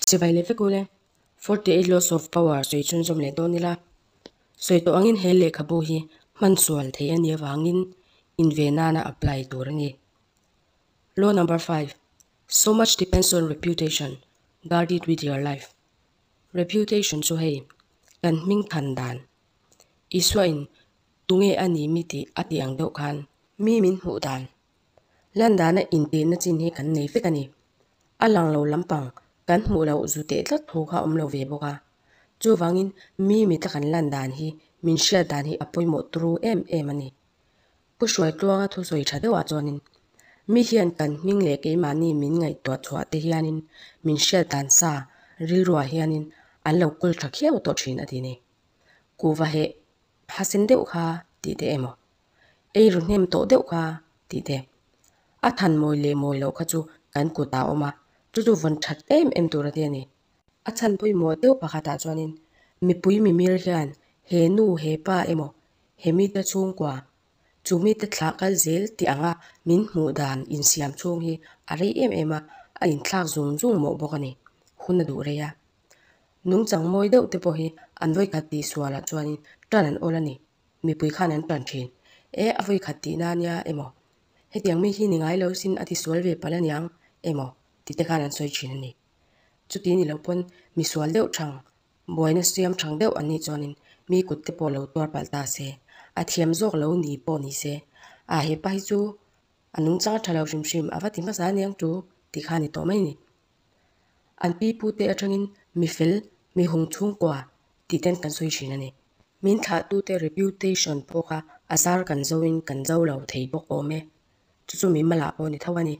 Sivai leh vek u le. Forty eight laws of power sawi chhun zawm leh dawn ila. Sawi tawh angin he lehkhabu hi hman sual thei a nih avangin in ve nana apply tur a ni. Law number five, So much depends on reputation, guard it with your life. Reputation chu hei kan hming than dan Isua in. Tunge a ni mi tih a tih ang deuh khan. Mi min hmuh dan. Landana intihna chin hi kan nei fek a ni. A lang lo lampang kan hmuh loh zu teh tlat thu kha awm lo ve bawk a. Chuvangin mi mitla kan lan dan hi min hriat dan hi a pawimawh tru em em a ni. Ka hruai tluanga thu sawi tha deuhah chuanin mi hian kan hming leh keimahni min ngaihtuah chhuah te hianin min hriat dan sa rilruah hianin an lo kawl tha khiau tawh thin a ti ni. Kuva heh, Thlasen deuh kha tih te emaw? Eiru hnem tawh deuh kha tih te? A than mawi leh mawi loh kha chu kan kutah a awm a, chu chu vawn that em em tur a nia ni. A chhan pawimawh deuh pakhatah chuanin mipui mimir hian he nu he pa emaw, he mite chhungkua, chu mite thlah kal zel tih anga min hmuh dan insiam chhung hi a rei em em a, a inthlak zung zung mawh bawk a ni. Hun a duh rei a. Nungchang mawi deuh te pawh hi an vawi khat tih sualah chuanin tan an awl a ni. Mipui khan an tan thin. E, a vawi khat tihna ania emaw, hetiang mi hi ni ngai lo sin a ti sual ve palh a niang emaw tite khan an sawi thin a ni. Chuti ni loh pawn misual deuh chang, buaina siam chang deuh an nih chuanin mi kut te pawh lo tuar palh ta se, a thiam zawk lo ni pawh ni se, a hepa hi chu a nungchang a tha lo hrim hrim a va ti hmasa aniang chu tih kha a ni tawh mai a ni. An pi pu te atangin mi fel, mi hung chhungkua tih ten kan sawi thin a ni. Min thlah tu te reputation pawh kha a zar kan zo in kan zo lo thei bawk awm e. Chu chu min malh ah pawh a ni tho a ni.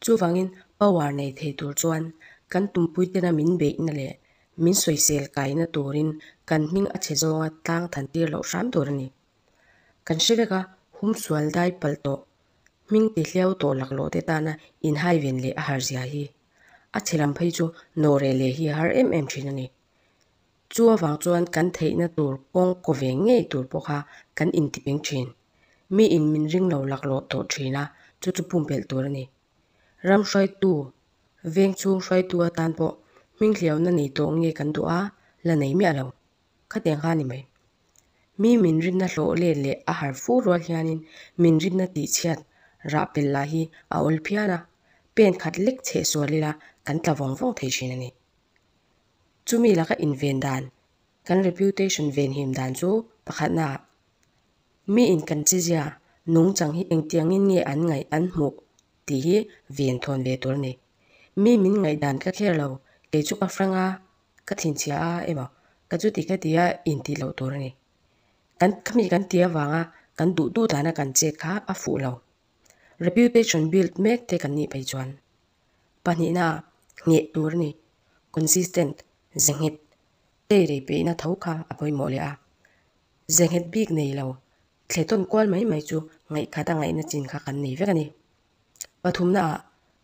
Chuvangin power nei thei tur chuan kan tumpui tena min beih na leh min sawisel kai na turin kan hming a chhe zawnga tlang than tir loh hram tur a ni. Kan hre vek a, hum sual dai palh tawh, hming ti hliau tawh laklawh te tana inhaiven leh a har zia hi, a chilam phei chu nawhreh leh hi a har em em thin a ni. Chu avang chuan kan theihna tur kawng kaw ve ngei tur pawh kha kan intipeng thin. Mi in min ring lo laklawh tawh thin a, chu chu pumpelh tur a ni. Ram hruaitu, veng chhung hruaitu atan pawh hming hliauna nei tawh nge kan duh a, la nei miah lo. Khati ang kha ni mai. Mi min rinna hlawh let leh a har fur rual hianin min rinna tih chhiat rah pel lah hi a awl phian a, pen khat lek chheh sual ila kan tla vawng vawng thei thin a ni. Chumi laka inven dan, kan reputation venhim dan chu pakhatna ah mi in kan chizia nung chang hi engtiangin nge an ngaih an hmuh tih hi venthawn ve tur a ni. Mi min ngaihdan ka kher lo, kei chu ka hrang a, ka thlinchhia a emaw ka chu ti ka ti a intih loh tur a ni kan khami kan ti avanga kan duh duh dan a kan chet kha a fuh lo reputation built mek te kan nih phei chuan pahnihna ngeh tur a ni consistent ze nghet te rei peih na tho kha a pawimawh leh a ze nghet bik nei lo thle tawn kual mai mai chu ngaihkhat a ngaihna chin kha kan nei vek a ni. Pathumnaah,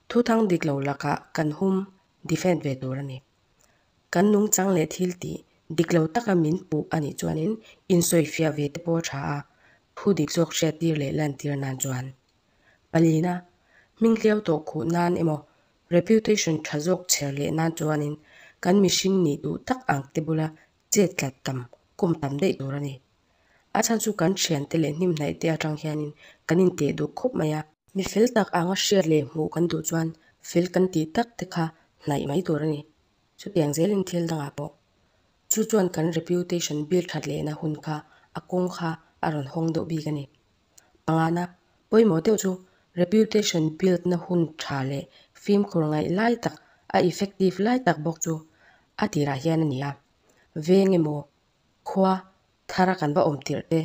thu thang dik lo lakah kan hum defend ve tur a ni. Kan nungchang leh thiltih dik lo taka min puh a nih chuanin insawi fiah ve te pawh a tha a, thu dik zawk hriattir leh lantir nan chuan. Palina, hming hliau tawh khuh nan emaw, reputation tha zawk chher leh nan chuanin kan mihring nih duh tak ang te bula chet tlat tam kawm tam daih tur a ni. A chhan chu kan thiante leh hnim hnaih te atang hianin kan inteh duh khawp mai a. Mi fel tak anga hriat leh hmuh kan duh chuan fel kan tih tak te kha hnaih mai tur a ni. Chutiang zelin thil dangah pawh chu chuan kan reputation bil that lehna hun kha a kawng kha a rawn hawng deuh bik a ni. Pangana, pawimawh deuh chu reputation build na hun tha leh fimkhur ngaih lai tak, a effective lai tak bawk chu a tirah hian a ni a. Veng emaw, khua thar a kan va awm tirh te,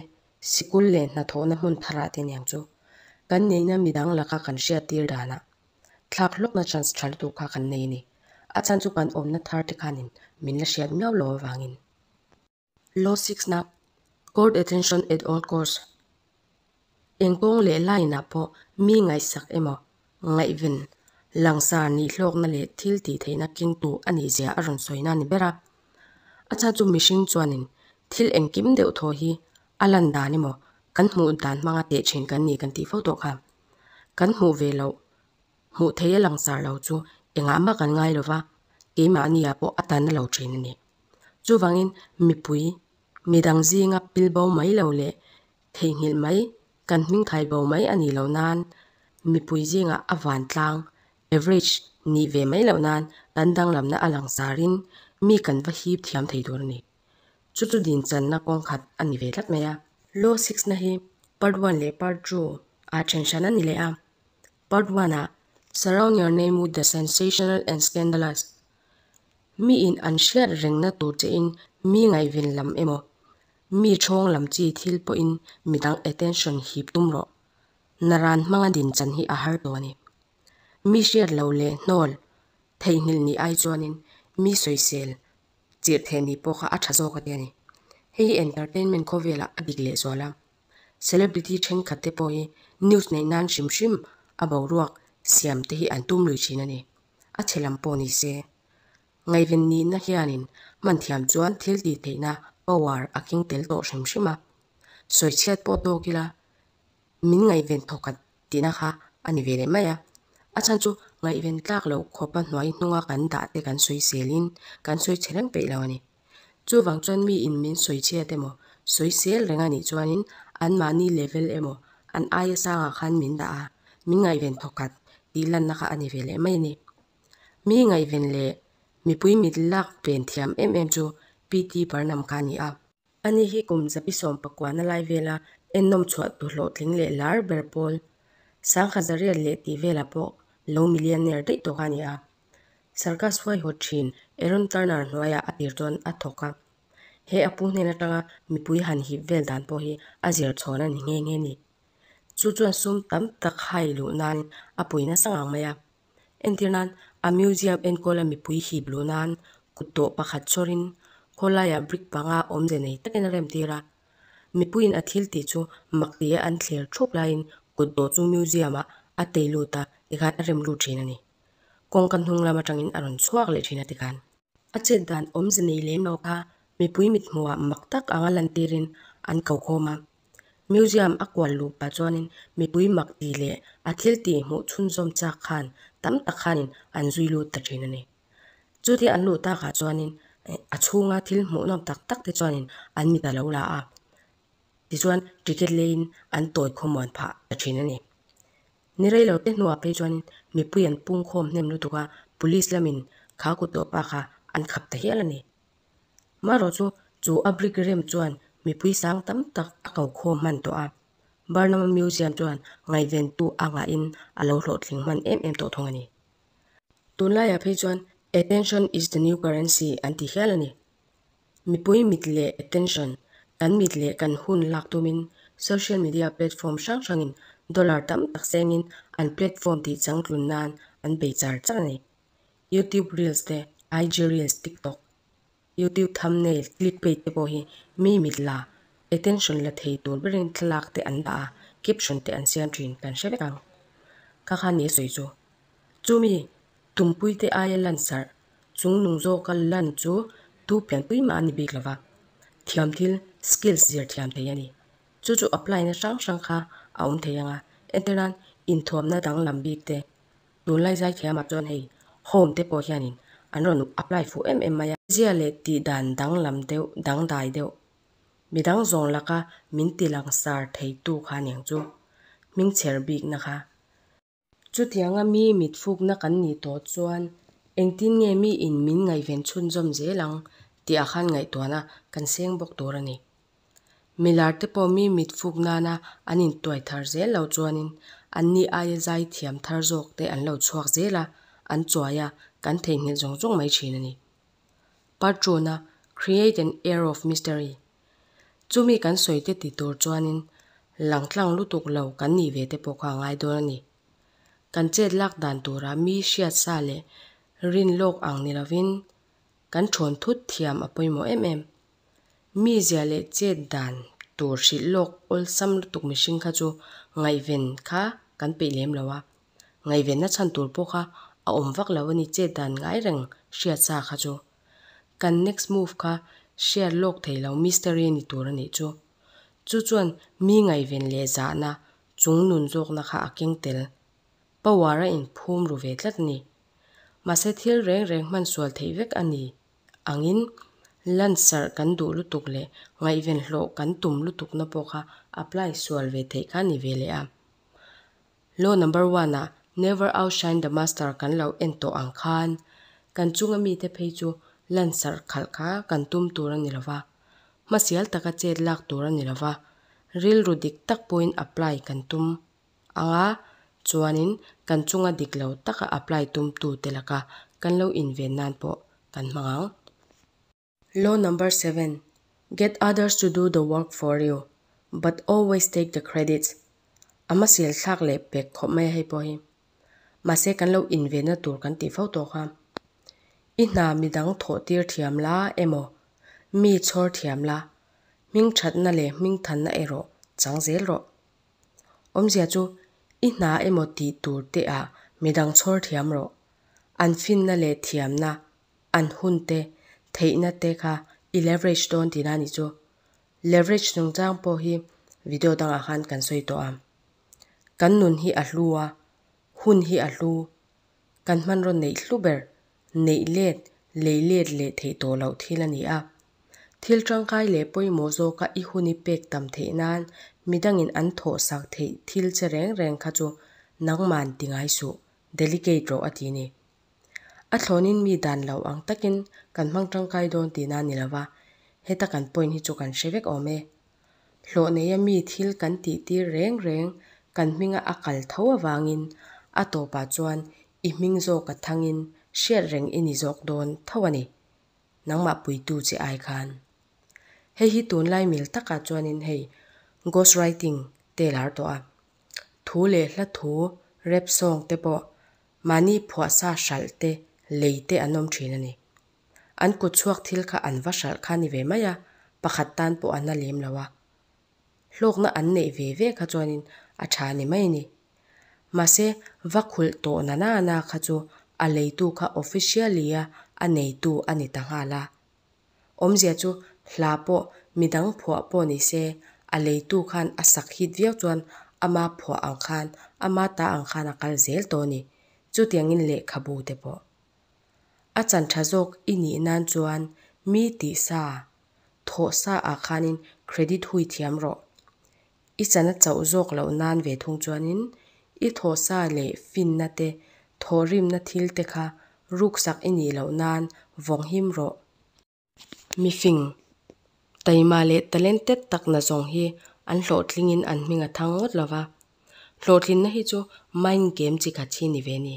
sikul leh hnathawhna hmun thar ah te niang chu, kan neihna midang laka kan hriat tir danah thlak hlawkna chance tha lutuk kha kan nei a ni. A chhan chu kan awmna thar te khanin min la hriat miau lo avangin. Law Six-na Court Attention at All Costs, Engkawng leh laina pawh mi ngaihsak emaw, ngaihven, langsar nih hlawkna leh thil tihtheihna keng tu a ni zia a rawn sawina a ni ber a. A chah chu mihring chuanin thil engkim deuh thaw hi a lan dan emaw, kan hmuh dan hmanga teh thin kan ni kan tih fo tawh kha. Kan hmuh ve loh, hmuh theih a langsar lo chu engah mah kan ngai lova, keimahnia pawh a tanna lo thin a ni. Chuvangin mipui, mi dang zinga pil bo mai lo leh theihnghilh mai, kan hming khai bo mai a nih loh nan, mipui zingah a vantlang, average, nih ve mai loh nan kan danglamna a langsarin mi kan va hip thiam thei tur a ni. Chu chu din channa kawng khat a ni ve tlat mai a. Law Six na hi Part One leh Part Two ah then hran a ni leh a. Part One ah, Surround your name with the sensational and scandalous. Miin an hriat rengna tur che in mi ngaihven lam emaw, mi chhawng lam chi thil pawhin mi dang attention hip tum rawh. Na ran hmanga din chan hi a har tawh a ni. Mi hriat lo leh hnawl theihnghilh ni ai chuanin mi sawisel chirh theih ni pawh kha a tha zawk ati a ni. Hei hi entertainment khawvelah a dik lehzual a. Celebrity thenkhat te pawh hi news neih nan hrim hrim a boruak siam te hi an tum lui thin a ni. a chhe lam pawh ni se. Ngaihven nihna hianin hman thiam chuan thil tih theihna power a keng tel tawh hrim hrim a. Sawi chhiat pawh tawk ila min ngaihven thaw khat tihna kha a ni ve leh mai a. A chhan chu ngaihven tlak loh khawpa hnuai hnunga kan dah te kan sawi selin kan sawi chhe reng peih lo a ni. Chuvang chuan mi in min sawi chhiat emaw, sawi sel reng a nih chuanin an mahni level emaw an aia sangah khan min dah a, min ngaihven thaw khat tih lanna kha a ni ve leh mai a ni. Mi ngaihven leh mipui mit lak ven thiam em em chu PT Parnam kha a ni a. A ni hi kum zapi sawm pakuana lai vela ennawm chhuah tu hlawhtling leh lar ber pawl, sangha zariat leh tih velah pawh lo millionaire daih tawh kha a ni a. Sarkaz huaihaw thin Aaron Turner hnuaiah a tir chuan a thawk a, He a pu hnen atanga mipui han hip vel dan pawh hi a zirchhawn a ni nghe nghe ni. Chu chuan sum tam tak hai luh nain a pawi nasa ngang mai a. Entir nan a museum enkawla mipui hip luh nan kut tawh pakhat chawrin khawlaiah brick panga awmze nei takin a remtir a. Mipuiin a thil tih chu mak ti a an thlir thup laiin kut dawh chu museum ah a tei lut a tikhan a rem lut thin a ni. kawngka hnunglam atangin a rawn chhuak leh thin a ti khan. A chet dan awmze nei lem lo kha mipui mithmuhah mak tak anga lantirin an ko khawm a. Museum a kual luh pah chuanin mipui mak tih leh a thil tih hmuh chhunzawm chak khan tam tak khanin an zui lut ta thin a ni. Chuti an luh takah chuanin a chhunga thil hmuh nawm tak tak te chuanin an mit a lo la a, tichuan ticket leiin an tawi khawmuan phah ta thin a ni. Ni reilo te hnuah phei chuan mipui an pungkhawm hnem lutuk a, police lamin kha kut tawh bakah an khap ta hial a ni. Marawchu chu a brick rem chuan mipui sang tam tak a ko khawm hman tawh a, Barnama Museum chuan ngaihventu a ngahin a lo hlawhtling hman em em tawh thung a ni. Tunlaiah phei chuan attention is the new currency an ti hial a ni. Mipui mit leh attention, Kan mit leh kan hun lak tumin social media platform hrang hrangin dollar tam tak sengin an platform tih chang tlun nan an bei char char a ni. YouTube Reels te, IG Reels, TikTok, YouTube Thumbnail, Clickbait te pawh hi mi mit la, attention la thei tur berin thlalak te an dah a, caption te an siam thin kan hre vek ang. Kha khan ni a sawi chu. Chumi tumpui te aia lansarh Chung nung zawka lan chu tu pian pui mah a ni bik lo va, thiam thil skills zir thiam thei a ni. Chu chu apply na hrang hrang kha a awm thei ang a, heti ran inthuam na danglam bik te tunlai zai thiam ah chuan hei home te pawh hian in an rawn apply fuh em em mai a. Zia leh tih dan danglam deuh dangdai deuh mi dang zawng laka min ti langsar thei tu kha ning chu hming chher bik na kha. Chutianga mi mitfukna kan nih tawh chuan engtin nge mi in min ngaihven chhunzawm zel ang tih ah khan ngaihtuahna kan seng bawk tur a ni. Milar te pawh mi mitfuk nana an in tuai thar zel lo chuanin an nih aia zai thiam thar zawk te an lo chhuak zel a, an chuai a, kan theihnghilh zawng zawng mai thin a ni. Patruna create an air of mystery. Chumi kan sawite ti tur chuanin lang tlang lutuk lo kan nih ve te pawh kha a ngai dawn a ni. Kan chet lak dan tura mi hriat sa leh rin lawk ang ni lovin kan ṭhawn thut thiam a pawimawh em em. Mi zia leh chet dan tur hrilh lawk awlsam lutuk mihring kha chu ngaihven kha kan peih lem lo a, Ngaihvenna chhan tur pawh kha a awm vak lo a ni, chet dan ngai reng hria sa kha chu. Kan next move kha share lawk thei lo mystery a ni tur a nih chu. Chu chuan mi ngaihven leh zahna chung nun zawkna kha a keng tel. Power a in phum ru ve tlat a ni. Mahse thil reng reng hman sual theih vek a ni angin lunch serh kan duh lutuk leh ngaihven hlawh kan tum lutukna pawh kha apply sual ve theih kha a ni ve leh a. Law number one ah Never outshine the master kan lo en tawh ang khan kan chunga mite phei chu lansarh khalh kha kan tum tur a ni lo va, hmasial taka chet lak tur a ni lo va, rilru dik tak pawhin apply kan tum ang a, chuanin kan chunga dik lo taka apply tumtute laka kan lo inven nan pawh kan hmang ang. Law number seven, Get others to do the work for you, but always take the credits. A hmasial thlak leh pek khawp mai a hei pawh hi. Mahse kan lo invena tur kan tih fo tawh kha. I hna midang thawhtir thiam la emaw mi chhawr thiam la hming thatna leh hming thanna erawh chang zel rawh. Awmzia chu i hna emaw tih tur te ah midang chhawr thiam rawh. An finna leh thiamna an hun te theihna te kha i leverage dawn tih na ni chu leverage chungchang pawh hi video dangah khan kan sawi tawh a, kan nun hi a hlu a, hun hi a hlu, kan hmanraw neih hlu ber, neih let, lei let leh theih tawh loh thil a ni a. Thil tangkai leh pawimawh zawka i hun i pek tam theih nan midangin an thawh sak theih thil che reng reng kha chu nangman ti ngai suh, delicate rawh a ti ni. A thlawnin mi dan loh ang takin kan hmang tangkai dawn tihna a ni lo va, heta kan point hi chu kan hre vek awm e. Hlawh neia mi thil kan tihtir reng reng kan hminga a kal tho avangin a tawpah chuan i hming zawk a thangin hriat reng i ni zawk dawn tho a ni. Nangmah puitu che ai khan. Hei hi tunlai mil takah chuanin hei ghost writing te lar tawh a. Thu leh hla thu rap sawng te pawh Mahni phuahsa hralh te, lei te an awm thin a ni. An kut chhuak thil kha an va hralh kha a ni ve mai a, pakhat tan pawh a na lem lo a. Hlawkna an neih ve ve kha chuanin a tha ni mai a ni. Mahse, va khulh tawh nana na kha chu a leitu kha officially-a a neitu a ni ta nghal a, Awmzia chu hla pawh midang phuah pawh ni se, a leitu khan a sak hit viau chuan ama phuah ang khan, ama ta ang khan a kal zel tawh a ni. Chutiangin lehkhabu te pawh. A chantha zawk i nih nan chuan mi tihsa, thawhsa ah khanin credit hui thiam rawh. I chana chauh zawk loh nan ve thung chuanin i thawhsa leh finna te, thawhrimna thil te kha ruksak i nih loh nan vawng him rawh. Mifing, taima leh talented tak na zawng hi an hlawhtlingin an hming a thang ngawt lo va. Hlawhtlina hi chu mind game chi khat hi ni ve ni?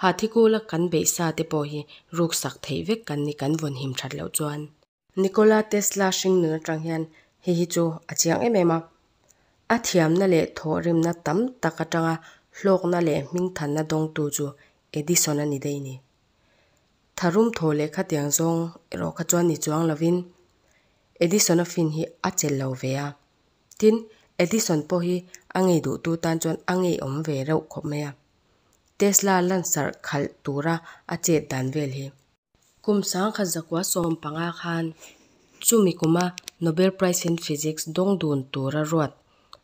Hathikula kan beihsa te pawh hi ruksak theih vek kan ni kan vawn him that loh chuan. Nikola Tesla hring nun atang hian hei hi chu a chiang em em a, a thiamna leh thawhrimna tam tak atanga hlawkna leh hmingthanna dawngtu chu Edison a ni daih ni. Tharum thaw leh khatiang zawng erawh kha chuan ni chuang lovin Edison-a fin hi a chel lo ve a. Tin, Edison pawh hi a ngei duhtu tan chuan a ngeiawm ve reuh khawp mai a, Tesla lansarh khalh tura a chet dan vel hi. Kum sangkhat zakua sawm panga khan chumi kuma Nobel Prize in Physics dawng dun tura ruat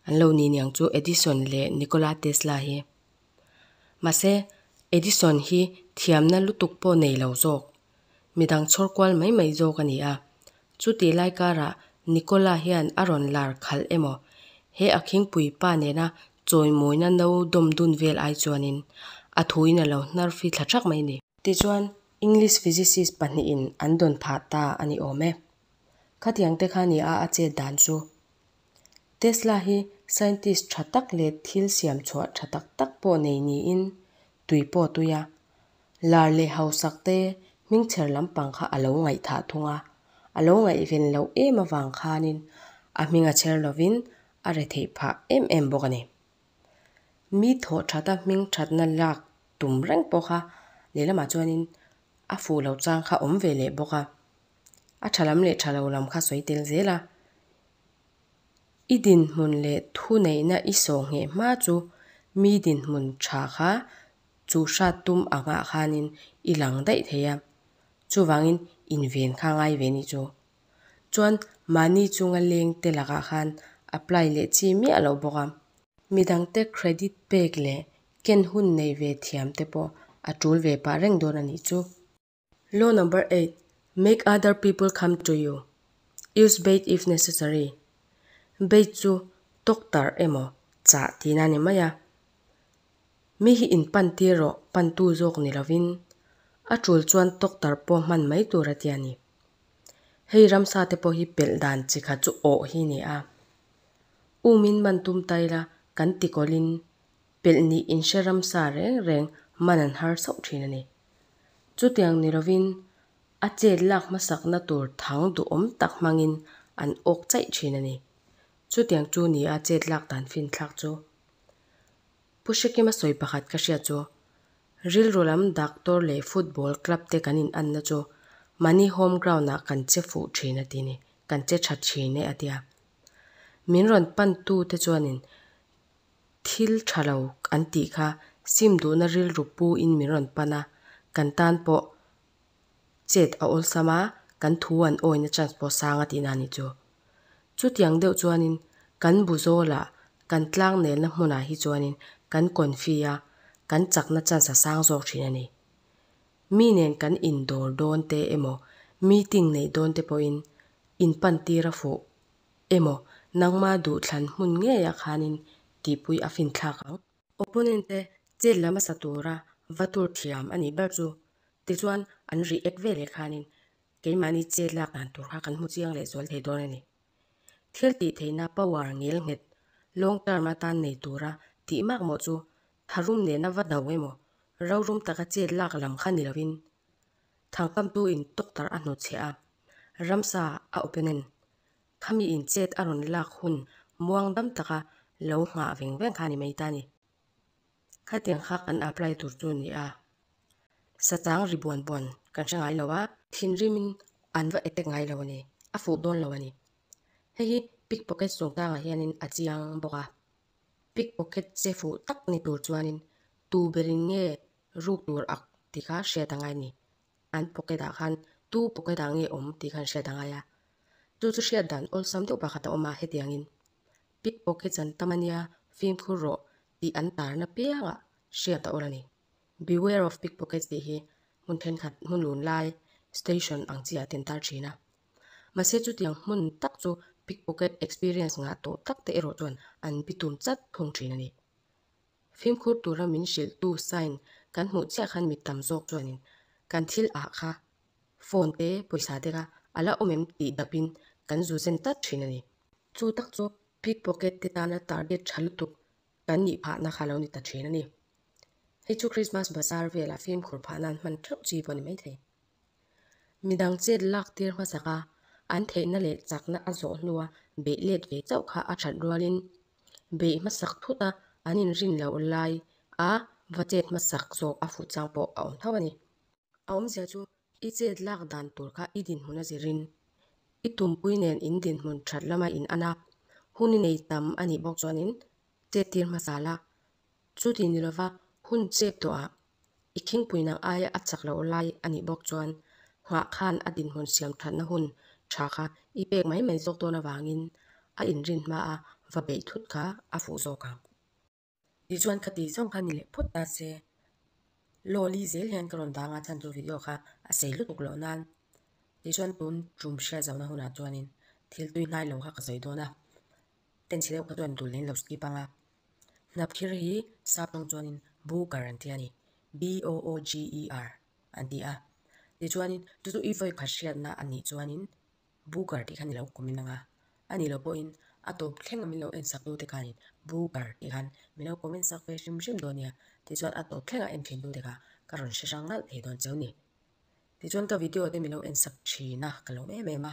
an lo ni niang chu Edison leh Nikola Tesla hi. Mahse, Edison hi thiamna lutuk pawh nei lo zawk, midang chhawr kual mai mai zawk a ni a. Chutih lai karah Nikola hian a rawn lar khalh emaw, he a khingpui pa nena chawimawina no dawm dun vel ai chuanin a thuin a lo hnar fi thla thak mai a ni. Tichuan, English physicist pahnihin an dawn phah ta a ni awm e. Khatiang te kha nia a chet dan chu. Tesla hi scientist tha tak leh thil siam chhuah tha tak tak pawh nei niin tui pawh tui a. Lar leh hausak te hmingchher lampang kha a lo ngaih thah thung a, a lo ngaih ven loh em avang khanin a hming a chher lovin a re theih phah em em bawk a ni. mi thawhthata hming thatna lak tum reng pawh kha lehlamah chuanin a fuh loh chang kha awm ve leh bawk a, a tha lam leh tha lo lam kha sawi tel zel a, i dinhmun leh thuneihna i sawhngheh hma chu mi dinhmun tha kha chu hrat tum angah khanin i lang daih thei a, chuvangin inven kha a ngai ve ni chu Chuan mahni chunga leng te lakah khan apply leh chi miah loh bawk a. Mi dang te credit pek leh ken hun neih ve thiam te pawh a tul ve pah reng dawn a nih chu. Law number eight, Make other people come to you. Use bait if necessary. Bait chu tawktarh emaw chah tina a ni mai a. Mi hi in pan tir rawh, pan tu zawk ni lovin a tul chuan tawktarh pawh hman mai tur a ti a ni. Hei ramsa te pawh hi pelh dan chi kha chu awh hi ni a. U min man tum ta ila kan tikawlin pelh nih in hre ramsa reng reng man an har sauh thin a ni. Chutiang ni lovin a chet lak hmasakna tur thang duhawm tak hmangin an awk chaih thin a ni. Chutiang chu ni a chet lak dan finthlak chu. Pu Hrekima sawi pakhat ka hria chu Rilru lam doctor leh football club te kan inanna chu mahni home ground ah kan che fuh thin a ti ni, kan che tha thin e a ti a. Min rawn pantu te chuanin thil tha lo an tih kha sim duhna rilru pu in min rawn pan a, kan tan pawh chet a awlsam a, kan thu an awin a chance pawh sang a tihna a ni chu. Chutiang deuh chuanin kan bu zawla kan tlang nelna hmunah hi chuanin kan confi a, kan chakna chance a sang zawk thin a ni. Mi nen kan indawr dawn te emaw, meeting neih dawn te pawhin in pan tir a fuh emaw, nangma duhthlan hmun ngeia khanin tihpui a finthlak ang. Opponent te chet lama sa tura va tur thiam a nih ber chu. Tichuan an rih ek ve leh khanin keimahni chet lak dan tur kha kan hmu chiang leh zual thei dawn a ni. Thil tih theihna power ngel nghet long term atan nei tura tih mak maw chu tharum nena va do emaw rorum taka chet lak lam kha ni lovin thangkamtu in tawk tarh a hnawt chhe a ramsa a opponent Khami inchet a rawn lak hun muang dam taka lo nghah veng veng kha a ni mai ta ni. Khatiang kha kan apply tur chu ni a, sachang ri buan buan kan hre ngai lo a. Thinrimin an va attack ngai lo a ni, a fuh dawn lo a ni. Hei hi pickpocket sungtangah hianin a chiang bawk a, pickpocket che fuh tak ni tur chuanin tuberin nge ruk tur ak tih kha hriat a ngai a ni. An pocket ah khan Tu pocket ah nge awm tih khan hriat a ngai a. Chu chu hriat dan awlsam deuh pakhat a awm a hetiang in, Pickpock hi chan ta mania fimkhur rawh tih an tar napiang ah hriat a awrh a ni. Beware of pickpockets tih hi hmun thenkhat hmun lun lai station ang chiah te an tar thin a. Mahse chutiang hmun tak chu pickpocket experience ngah tawh tak te erawh chuan an bi tum chat thung thin a ni. Fimkhur tura min hrilhtu sign kan hmuh chiah khan mit tam zawk chuanin kan thil ah kha phone te pawisa te kha a la awm em tih dap in kan zu zen tlat thin a ni. Chu tak chu pickpocket te tana target tha lutuk kan nih phah na kha lo ni ta thin a ni. Hei chu Christmas bazaar velah fimkhur phah na an hman theuh chi pawh a ni maithei. Mi dang chet lak tir hmasak a an theih na leh chak na a zawh hnu a beh let ve chauh kha a that rual in beih hmasak phut a an inrin loh lai a va chet hmasak zawk a fuh chang pawh a awm tho a ni. A awmzia chu i chet lak dan tur kha i dinhmun a zir in i tumpui nen in dinhmun that lama in an a hun i nei tam a nih bawk chuan in chet tir hmasa la Chu ti ni lova, hun chep tawhah i thingpuinak aia a chak loh lai a nih bawk chuan nghah khan a dinhmun siamthatna hun tha kha i pek mai mai zawk dawn avangin a inrin hma a va beih thut kha a fuh zawk ang. Ti chuan ka ti zawng kha ni leh phut ta se, Lawli zel hian ka rawn vang a chuan chu video kha a sei lutuk loh nan. Ti chuan tun tum hriat zohna hunah chuanin thiltui hnai lo kha ka sawi dawn a. Pencil erawh ka tuan turin lo skip anga hnap thir hi sap tawng chuanin booger an ti a ni, B O O G E R an ti a, tichuanin chu chu i vawi khat hriatna a nih chuanin booger tih khan i lo awmin anga a ni loh pawhin a tawp thleng a min lo en saktu te khanin booger tih khan min lo comment sak ve hrim hrim dawn nia tichuan a tawp thleng a en thintu te kha ka rawn hre hrang ngalh thei dawn cheu ni. Tichuan ka video te min lo en sak thin a ka lo em em a.